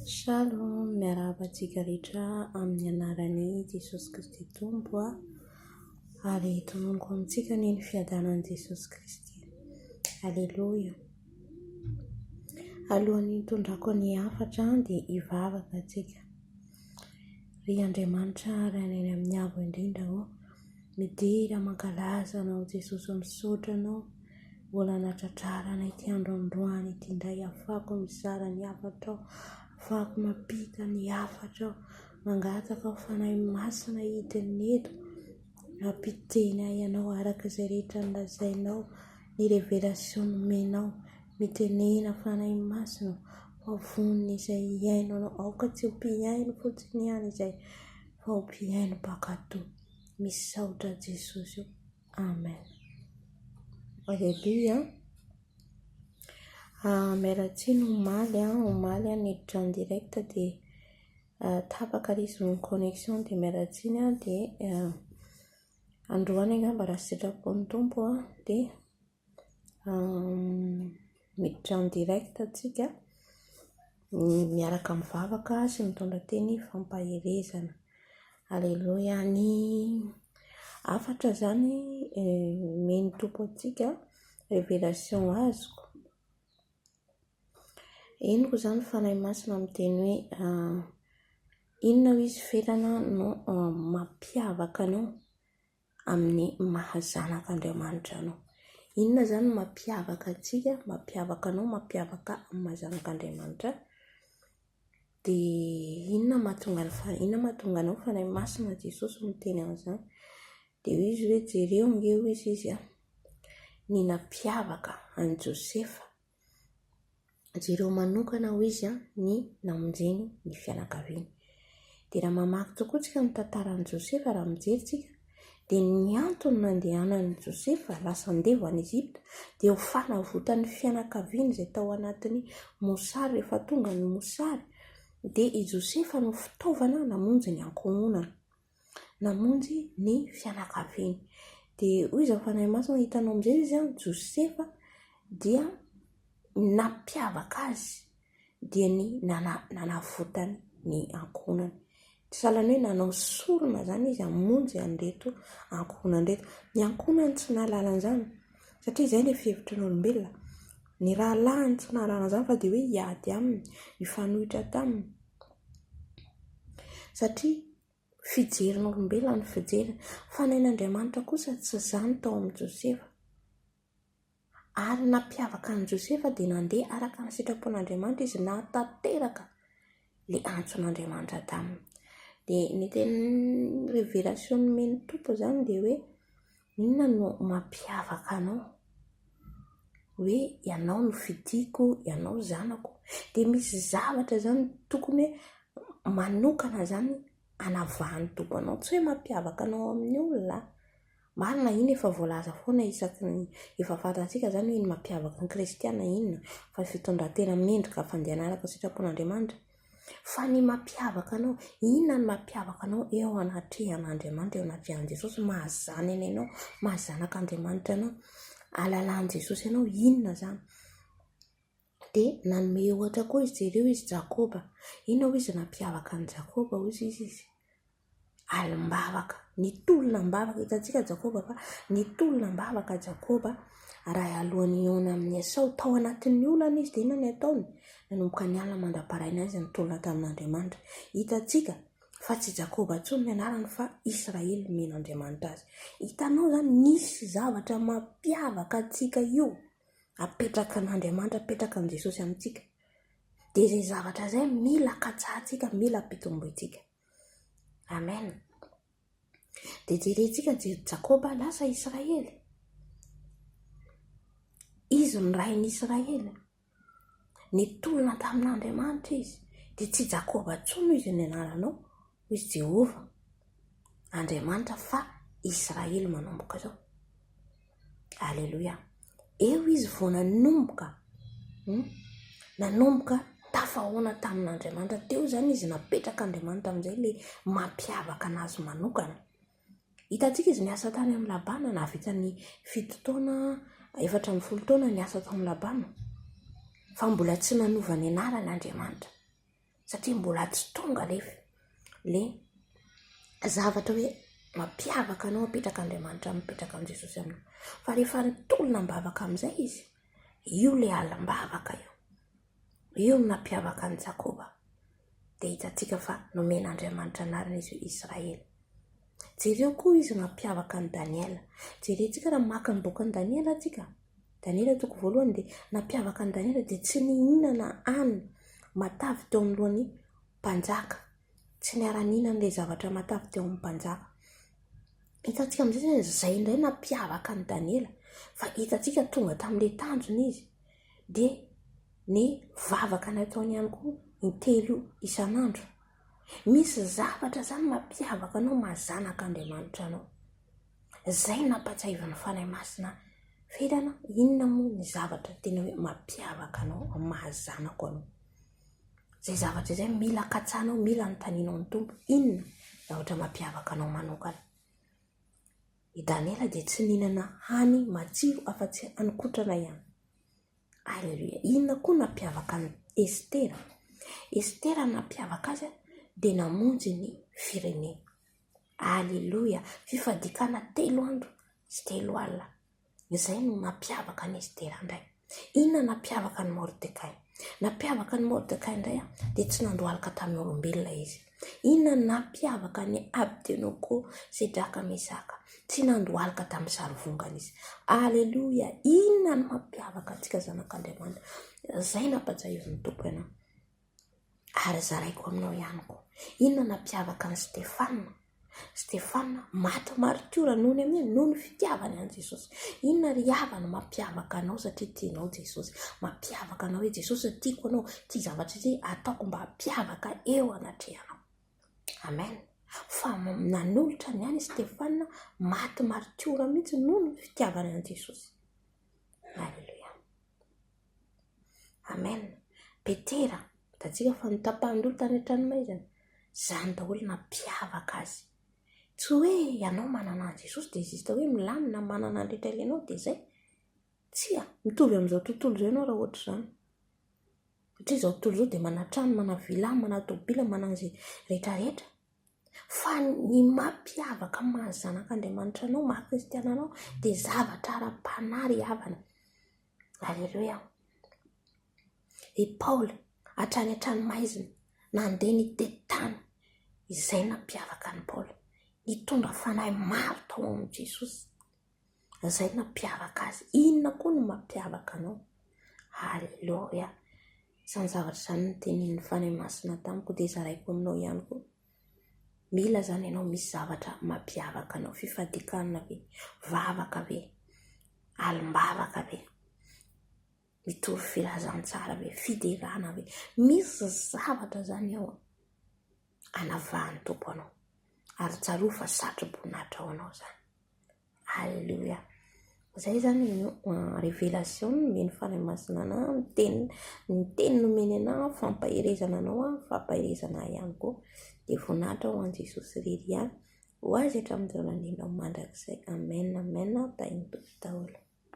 Shalom, miarahaba antsika rehetra amin'ny anaran'i Jesosy Kristy Tompo a, ary tononiko amintsika anie ny fiadanan'i Jesosy Kristy. Aleloia. Alohan'ny hitondrako ny hafatra dia hivavaka antsika. Ry Andriamanitra ary any amin'ny avo indrindra ô, midera mankalaza anao Jesosy, misaotra anao. Mbola anadradrarana ity andro androany ity indray afahako mizara ny hafatra aho, afahako mampita ny hafatra aho, mangataka ho Fanahy Masina hidina eto hampiteny ahy ianao araka izay rehetra nolazainao, ny révélation nomenao, mitenena Fanahy Masina ô, fa vonona izay hihaino anao, aoka tsy ho mpihaino fotsiny ihany izay fa ho mpihaino mpankatò, misaotra Jesosy ô. Amen. Alléluia. Ah, Meratsiny omaly, ah, omaly ah, niditra en direct dia ah, tapaka ilay izy ny connexion dia Meratsiny ah, dia ah, androany angamba raha sitrapon'ny Tompo ah, dia Miditra en direct isika miaraka mivavaka sy mitondra teny fampaherezana. Aleloia ny hafatra izany omen'ny Tompo antsika, révélation azoko. Henoko izany Fanahy Masina miteny hoe inona hoy izy, ferana no mampiavaka anao amin'ny maha zanak' Andriamanitra anao. Inona izany no mampiavaka antsika, mampiavaka anao, mampiavaka ahy amin'ny maha zanak' Andriamanitra ahy? Dia inona no mahatonga ny Fanahy, inona no mahatonga anao Fanahy Masina hoy Jesosy miteny an'izany? Dia hoy izy hoe, jereo ange hoy izy an, ny nampiavaka an'i Josefa Jereo manokana, hoy izy, ny namonjeny ny fianakaviany. Dia raha mamaky tokoa isika ny tantaran'i Josefa, raha mijery isika, dia ny antony nandehanan'i Josefa lasa handeha ho any Egypta dia ho fanavotan'ny fianakaviany izay tao anatin'ny mosary. Rehefa tonga ny mosary dia i Josefa no fitaovana namonjy ny ankohonana. namonjy ny fianakaviany. Dia hoy izao Fanahy Masina, hitanao amin'izay izy an, Josefa dia nampiavaka azy dia ny nana, nanavotany ny ankohonany. Sahalan'ny hoe nanao sorona izany izy hamonjy an'ireto ankohonany ireto. Ny ankohonany tsy nahalala an'izany. satria izay ilay fihevitry ny olombelona, ny rahalahiny tsy nahalala an'izany fa dia hoe hiady aminy, hifanohitra taminy, satria fijerin'ny olombelona ny fijeriny, fa ny ain'Andriamanitra kosa tsy izany tao amin'i Josefa, ary ny nampiavaka an'i Josefa dia nandeha araka ny sitrapon'Andriamanitra izy nahatanteraka ilay antson'Andriamanitra taminy, dia ny tena révélation nomen'ny Tompo izany dia hoe Inona no mampiavaka anao? Hoe ianao no fidiko, ianao zanako. Dia misy zavatra izany tokony hoe manokana izany anavahan'ny Tompo anao. Tsy hoe mampiavaka anao amin'ny olona. Marina, iny efa voalaza foana isaky ny efa fantatsika izany hoe ny mampiavaka ny kristiana inona, fa ny fitondran-tena mendrika fandehanana araka ny sitrapon'Andriamanitra. Fa ny mampiavaka anao, inona no mampiavaka anao eo anatrehan'Andriamanitra, eo anatrehan'i Jesosy, maha zanany anao, maha zanak'Andriamanitra anao, ahalalan'i Jesosy anao, inona izany? Dia nanome ohatra koa izy, jereo izy Jakoba, inona hoy izy no nampiavaka an'i Jakoba hoy izy? alim-bavaka, nitolona am-bavaka. Hitantsika Jakoba fa nitolona am-bavaka Jakoba raha alohan'ny hihaona amin'i Esao. Tao anatin'ny olana izy, dia inona no ataony? Nanomboka niala mandra-paraina izy nitolona tamin'Andriamanitra. Hitantsika fa tsy Jakoba intsony ny anarany fa Israely nomena Andriamanitra azy. Hitanao izany, nisy zavatra mampiavaka antsika io, apetraka an'Andriamanitra, apetraka amin'i Jesosy amintsika. Dia izay zavatra izay mila katsahantsika, mila ampitombointsika. Amen. Dia jerentsika ny jery Jakoba lasa Israely. Izy no rain'i Israely. Nitolona tamin'Andriamanitra izy. Dia tsy Jakoba intsony izy ny anaranao, hoy izy Jehovah. Andriamanitra fa Israely manomboka izao. Aleloia. Eo izy vao nanomboka, hmm? nanomboka tafahoana tamin'Andriamanitra. Teo izany izy napetraka Andriamanitra amin'izay le mampiavaka anazy manokana. Hitantsika izy niasa tany amin'ny labana, nahavita ny fito taona, efatra amin'ny folo taona niasa tao amin'ny labana. Fa mbola tsy nanova ny anarany Andriamanitra. satria mbola tsy tonga nefa le zavatra hoe mampiavaka anao mipetraka Andriamanitra mipetraka amin'i Jesosy aminao fa rehefa nitolona am-bavaka amin'izay izy io le alim-bavaka io io no nampiavaka an'i Jakoba de hitantsika fa nomen'Andriamanitra anarana izy hoe Israely jereo koa izy mampiavaka an'i Daniela jerentsika raha maka ny bokin'i Daniela antsika Daniela toko voalohany dia nampiavaka an'i Daniela dia tsy nihinana hanina matavy teo anoloan'ny mpanjaka, tsy niara-nihinana ilay zavatra matavy teo amin'ny mpanjaka. Hitantsika amin'izay izany izay indray nampiavaka an'i Daniela fa hitantsika tonga tamin'ilay tanjona izy dia ny vavaka nataony ihany koa intelo isan'andro. Misy zavatra izany mampiavaka anao maha zanak'Andriamanitra anao. Izay nampahatsiahiva ny Fanahy Masina ahy. F'hitana, inona moa ny zavatra tena hoe mampiavaka anao amin'ny maha zanako anao? Izay zavatra izay mila katsahanao, mila anontanianao ny Tompo, inona zavatra mampiavaka anao manokana? I Daniela dia tsy nihinana hany matsiro afa-tsy haninkotrana ihany. Aleloia! Inona koa nampiavaka an'i Estera? Estera ny nampiavaka azy dia namonjy ny firenena. Aleloia! Fifadiakana telo andro sy telo alina. Izay no nampiavaka an'i Estera indray. Inona no nampiavaka an'i Mordekay? Nampiavaka an'i Mordekay indray dia tsy nandohalika tamin'ny olombelona izy. Inona no nampiavaka an'i Abdenoko, Sedraka, Mesaka? Tsy nandohalika tamin'ny sarivongana izy. Aleloia! Inona no mampiavaka antsika zanak'Andriamanitra? Izay nampahatsiahivin'ny Tompo ianao. Ary zaraiko aminao ihany koa, inona no nampiavaka an'i Stefana? Stefana maty maritiora noho ny an'inona? Noho ny fitiavany an'i Jesosy. Inona ry havana no mampiavaka anao satria tianao Jesosy? Mampiavaka anao hoe Jesosy ry tiako anao, ity zavatra ity ataoko mba hampiavaka eo anatrehanao. Amen. Fa nanolotra ny any Stefana maty maritiora mihitsy noho ny fitiavany an'i Jesosy. Alléluia. Amen Petera hitantsika fa ny tapahany roa tany an-tranomaizina izany daholo nampiavaka azy tsy hoe ianao manana an'i Jesosy dia juste hoe milamina manana ny rehetra ilainao dia izay tsia mitovy amin'izao tontolo izao ianao raha ohatra izany satria izao tontolo izao dia manana trano manana villa manana tômôbila manana izay rehetra rehetra fa ny mampiavaka ny maha zanak'Andriamanitra anao maha kristiana anao dia zavatra ara-panahy ry havana Aleloia. I Paoly hatrany hatrany maizina nandeha nitety tany izay nampiavaka an'i Paoly. Nitondra fanahy maro tao amin'i Jesosy. Izay nampiavaka azy. Inona koa no mampiavaka anao? Aleloia. Izany zavatra izany ny tenin'ny fanahy masina tamiko dia zaraiko aminao ihany koa. Mila zany ianao misy zavatra mampiavaka anao, fifadikanana ve, vavaka ve, alim-bavaka ve, mitovy filazantsara ve, fiderana ve, misy zavatra zany ao anavahan'ny Tompo anao ary tsarovy fa satroboninahitra ho anao zany. Alléluia. Zay zany révélation nomeny fanahy masina anah ny teniny, ny teniny nomeny anah fampaherezana anao aho fampaherezana ahy ihany koa de voninahitra ho an'i Jesosy irery ihany ho azy hatramin'izao nandrianao mandrakizay amen amen tahin'ny Tompo daholo.